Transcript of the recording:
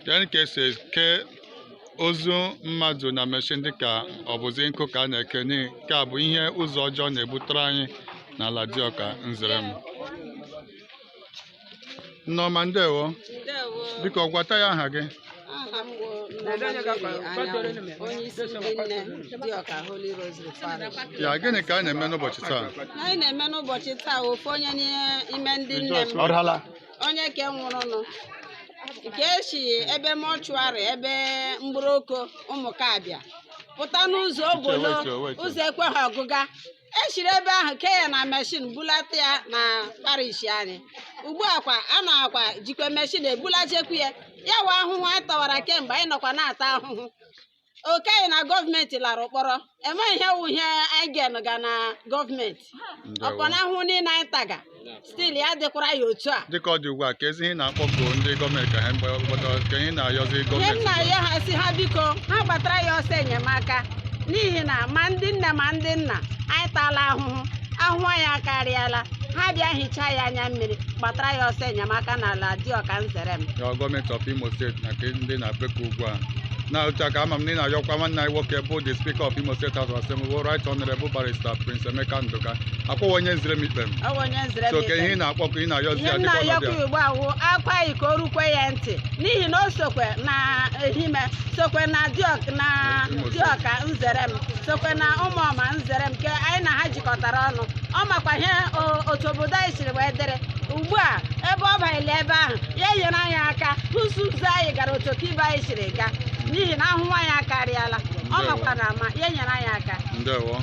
Gịnị ka e si eke ozu mmadụ na meshin dịka ọ bụzi nkụ ka a na-eke nke a bụ ihe ụzọ ọjọọ na-ebutere anyị n'ala Dioka Nzerem. Nne ọma ndewo. Ndewo. Biko gwatụ anyị aha gị. aha m bụ Nnamadịrị onye isi ndị nne Dioka Holy Rosary Parish ya gịnị ka a na-eme n'ụbọchị taa anyị na-eme n'ụbọchị taa ofu onye n'ime ndị nne m onye ke nwụrụnụ ka e si ebe mọchụarị ebe Mgbọrọkọ Ụmụkabịa pụta n'ụzọ Obolo ụzọ ekweghị ọgụga e siri ebe ahụ kee ya na meshin bulata ya na parish anyị ugbu a kwa a nọkwa jikwa meshin ebulachikwu ya ya wụ ahụhụ anyị tawara kemgbe anyị nọkwa na-ata ahụhụ oke anyị na gọọmenti lara n'ụkpọrọ enweghị ihe wụ ihe anyị ga-enụ ga na gọọmenti ọkwa na ahụhụ niile anyị taga stil ya dịkwara ya otu a dịka ọ dị ugbu a kezi ihe ị na-akpọku ndị gọọmenti ka ha gbata ke ihe ị na-ayọzi gọọmenti ihe m na-ayọ ha sị ha biko ha gbatara anyị ọsọ enyemaka n'ihi na ma ndị nne ma ndị nna anyị taala ahụhụ ahụhụ anyị akarịala ha bịa hichaa anyị anya mmiri gbatara anyị ọsọ enyemaka n'ala Dioka Nzerem gọọmenti of imo steeti na nke ndị ị na-ebeku ugbu a na otu a ka ama m na ị na-ayọkwa nwanne anyị nwoke bụ the speaker of imo state house of assembly bụ right honorable barrister prince emeka nduka akpọwa onye Nzerem Ikpem ọ bụ onye Nzerem Ikpem. so ke ihe ị na-akpọku ị na-ayọzi ya dịka ọnọdụ ihe m na-ayọkwa ya ugbu a wụ akwa anyị ka o rukwe ya ntị n'ihi na o sokwe na Ehime sokwe na diọk- na Imo steeti. Dioka Nzerem sokwe na Ụmụọma Nzerem ke anyị na ha jikọtara ọnụ ọ makwa ihe o- otu obodo anyị siri wee dịrị ugbu a ebe ọ banyere ebe ahụ ya nyere anyị aka hụ sị ụzọ anyị gara otu ka ibe anyị siri gaa n'ihi na ahụhụ anyị akarịala Ndewo. ọ makwa na ama ya nyere anyị aka ndewo